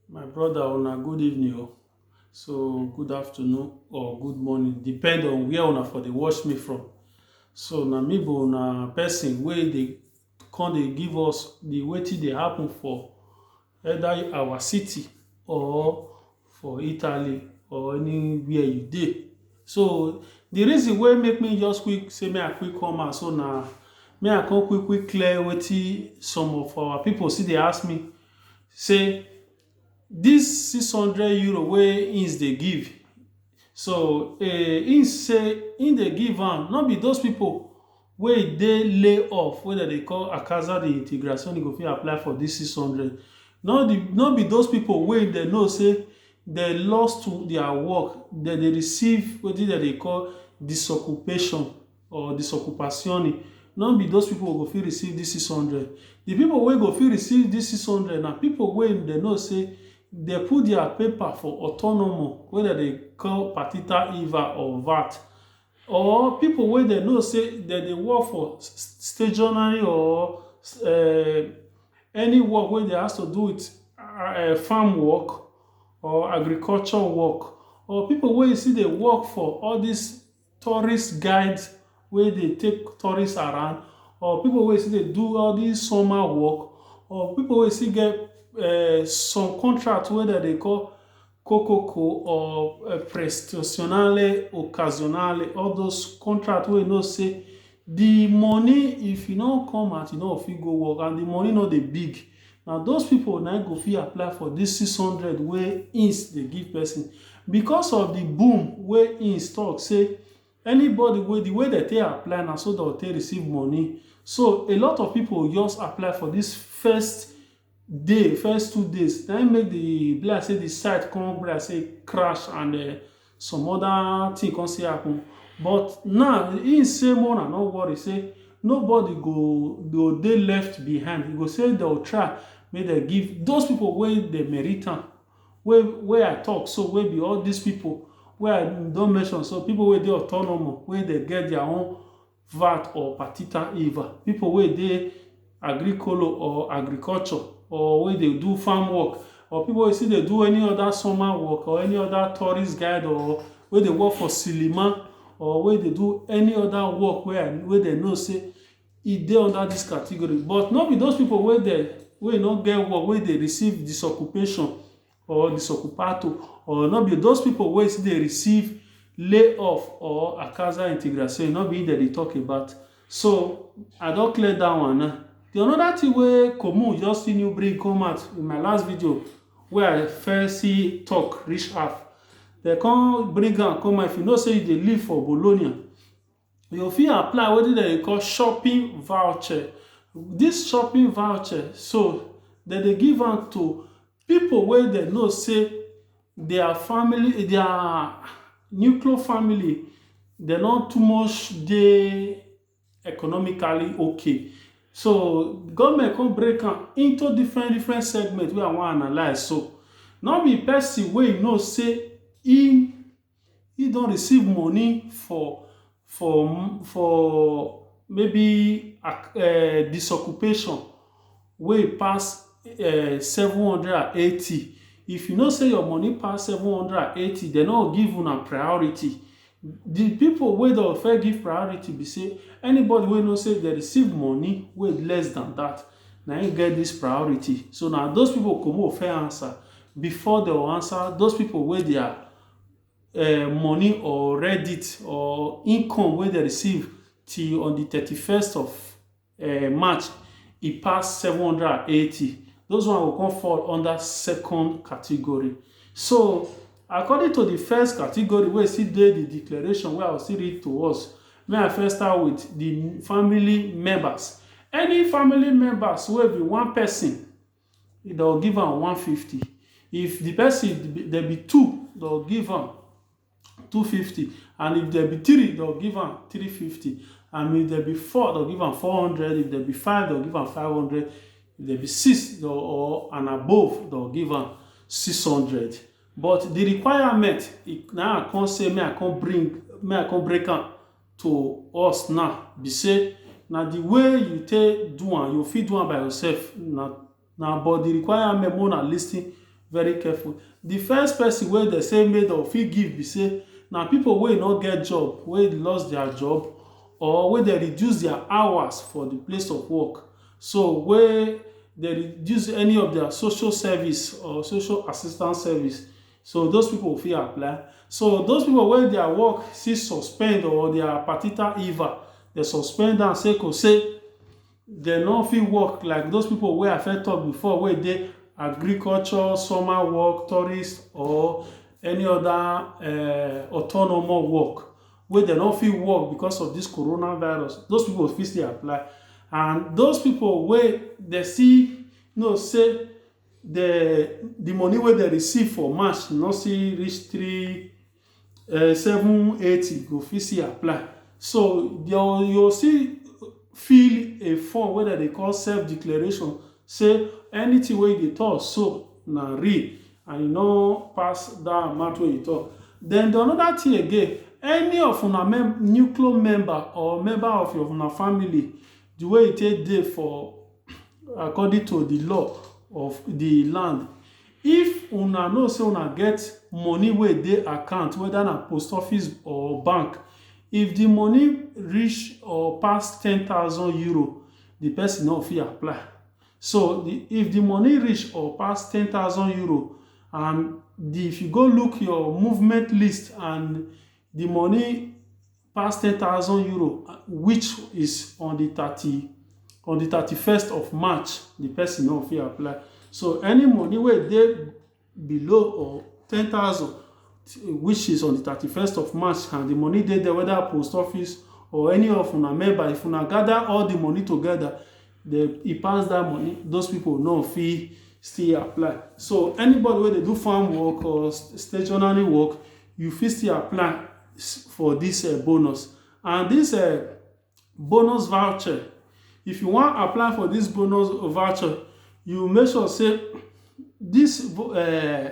My brother una good evening o, oh. so good afternoon or good morning depend on where una for dey watch me from. So na me be una person wey dey come dey give us the wetin dey happen for either our city or for Italy or anywhere you dey. So the reason wey make me just quick say make I quick come out so na make I come quick quick clear wetin some of our people still dey ask me say this six hundred euro wey im dey give so im say im dey give am no be those people wey e dey lay off wey dem dey call a causa de integración e go fit apply for dis six hundred no di no be those people wey dem know say dem lost to their work dem dey receive wetin dem dey call disoccupation or disocupazione no be those people go fit receive dis six hundred di people wey go fit receive dis six hundred na people wey dem know say dem put their paper for autonomo wey dem dey call partita iva or vat Or pipo wey dem know sey dem dey work for stationary or um any work wey dey has to do with um farm work or agriculture work. Or pipo wey still dey work for all dis tourist guide wey dey take tourist around. Or pipo wey still dey do all dis summer work. Or pipo wey still get um some contract wey dem dey call kokoko or prestationale occasionale all those contract wey you know say the money if e no come out you no go fit go work and the money no dey big na those people na im go fit apply for this six hundred wey ins dey give person because of the boom wey ins talk say anybody wey the way dem take apply na so dem go take receive money so a lot of people just apply for this first day, first two days, na im make the, e be like sey the site con be like sey e crash and um some other thing con still happen. But now, im sey make huna no worry sey nobody go go dey left behind. E go sey de o try make de give dos pipu wey dey merit am, wey wey I talk so, wey be all dis pipu wey I don mention so. Pipu wey dey autonomo, wey de get their own vat or patita iva. Pipu wey dey agrikolo or agriculture or wey dey do farm work or pipu wey still dey do any other summer work or any other tourist guide or wey dey work for cinema or wey dey do any other work wey I wey dem know sey e dey under dis category. But no be those pipu wey dem wey no get work wey dey receive disoccupation or disoccupado or no be those people wey still dey receive layoff or a causa integração no be dem dey talk about so i don clear that one now the another thing wey Comun just see new bring come out in my last video wey i first see talk reach half dem come bring am come out if you know say you dey live for Bologna you fit apply wetin dem dey call shopping voucher. Dis shopping voucher so, dem dey give am to pipu wey dem know sey their family, their nuclear family dem no too much dey economically okay. So, government con break am into different different segment wey I wan analyse so. No be person wey you know sey im he don receive money for for for maybe um disoccupation wey pass um seven hundred and eighty. If you know sey your money pass seven hundred and eighty, de no go give una priority. The pipu wey de go first give priority be sey anybody wey know sey de receive money wey less than dat, na im get dis priority. So, na dos pipu go comot go first answer before de go answer dos pipu wey their um money or reddit or income wey dem receive till on the thirty first of um march e pass seven hundred and eighty those one go come fall under second category so according to the first category wey still dey the declaration wey I go still read to us make I first start with the family members any family members wey be one person Dey go give am one fifty if the person dey be two dey go give am two fifty and if dey be three dey go give am three fifty and if dey be four dey go give am four hundred if dey be five dey go give am five hundred if dey be six or and above dey go give am six hundred but the requirement na him I come say make I come bring make I come break am to us now be say na the way you take do am you fit do am by yourself na but the requirement make una lis ten very careful the first person wey dem say make dem fit give be say na people wey no get job wey lost their job or wey dem reduce their hours for the place of work so wey dem reduce any of their social service or social assistance service So those people fit apply. So those people wey their work still suspend or their partita iva, dem suspend am say ko say dem no fit work like those people wey I first talk before wey dey agriculture, summer work, tourist or any other um autonomous work wey dem no fit work because of this corona virus, those people fit still apply and those people wey dem still know say the the money wey dem receive for March no still reach three um seven eighty go fit still apply so your you go still fill a form wey dem dey call self declaration say anything wey you dey talk so na real and you no pass that amount wey you talk then the another thing again any of una nucleus member or member of your una family The way e take dey for according to the law of the land, if una know sey una get money wey e dey account, whether na post office or bank, if the money reach or pass ten thousand euro, the pesin no go fit apply. So, the if the money reach or pass ten thousand euro and the if you go look your movement list and the money pass ten thousand euro which is on the thirty on the thirty first of march the person no fit apply so any money wey dey below or ten thousand which is on the thirty first of march and the money dey there whether post office or any of una member if una gather all the money together then e pass that money those people no fit still apply so anybody wey dey do farm work or stationary work You fit still apply for dis um bonus and dis um bonus voucher, if you wan apply for dis bonus voucher, you make sure sey dis um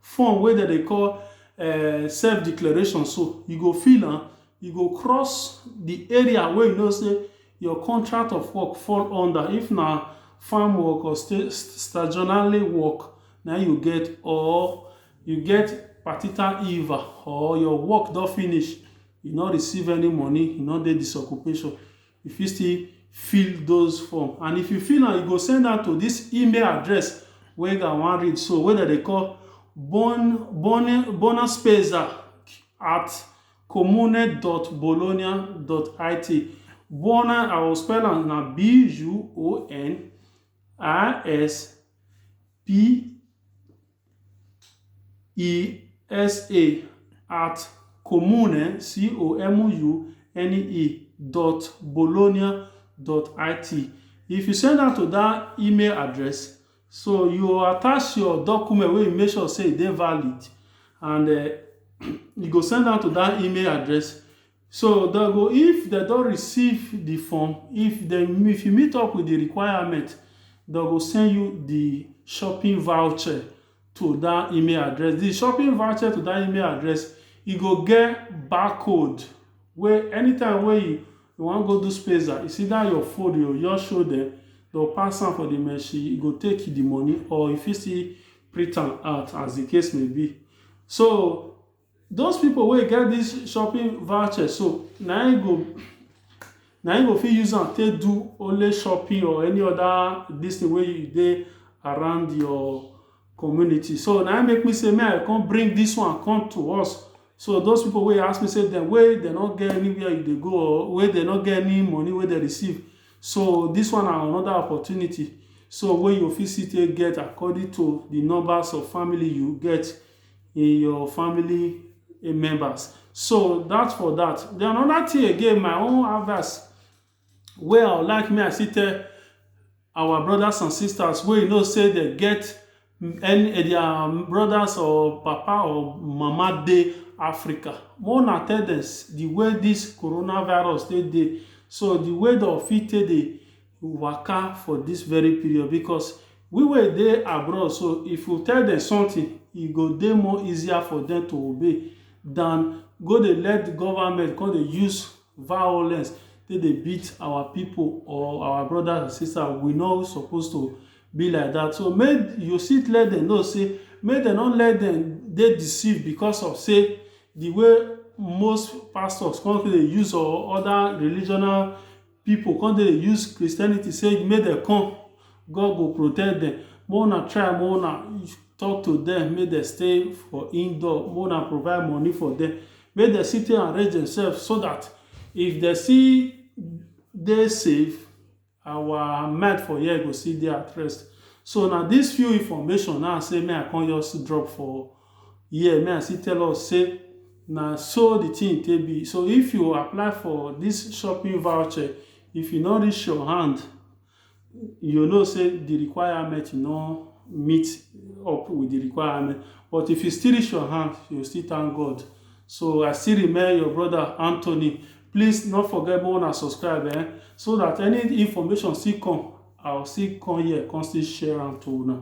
form wey dem dey call um self declaration so, you go fill am, you go cross de area wey you know sey your contract of work fall under. If na farm work or work na im you get or You get partital iva or your work don finish, you no receive any money, you no dey dis occupation, you fit still fill those form and if you fill am, you go send am to dis email address wey una wan read so, wey dem dey call at comune dot bologna dot it. Buona I will spell am na B U O N I S P e S A at comune C O M U N E dot bologna dot I T. If you send am to dat email address, so you go attach your document wey you make sure sey e dey valid and um you go send am to dat email address. So dem go if dem don receive the form, if dem if you meet up with the requirement, dem go send you the shopping voucher to that email address. The shopping voucher to that email address, e go get barcode wey anytime wey you you wan go do spesa, it's either your phone you go just show dem, they will pass am for the machine, you go take the money or you fit still print am out as the case may be. So Those people wey get this shopping voucher so, na im go na im go fit use am take do only shopping or any other this thing wey you dey around your community. So na im make me say make I come bring this one come to us. So those people wey ask me say dem wey dem no get anywhere you dey go or wey dem no get any money wey dem receive. So this one na another opportunity so wey you fit still take get according to the numbers of family you get. in your family members. So dat for dat. Den another thing again my own advice wey I would like make I still tell our brothers and sisters wey you know sey dem get any their brothers or papa or mama dey Africa. Make una tell dem the way dis coronavirus take dey so the way dey go fit take dey u waka for this very period because we wey dey abroad so if u tell dem something e go dey more easier for dem to obey than go dey let the government come dey use violence take dey beat our people or our brothers and sisters we no suppose to be like that so make u still let dem know say make dem no let dem dey deceive because of say the way most pastors come dey use or other religional Pipo come dey use Christianity say make dem come, God go protect dem. Make una try make una tok to dem make dem stay for indoor, make una provide money for dem, make dem still take arrange demsef so dat if dem still dey safe, our mind for here go still dey at rest. So na dis few information na say make I come just drop for Here me I still tell us sey na so de thing take be. So if you apply for dis shopping voucher, if e no reach your hand, you know sey de requirement no meet up wit de requirement. But if e still reach your hand, you go still thank God. So I still remain your brother Anthony. Please no forget make una subscribe um so dat any information still come, I go still come here come still share am to una.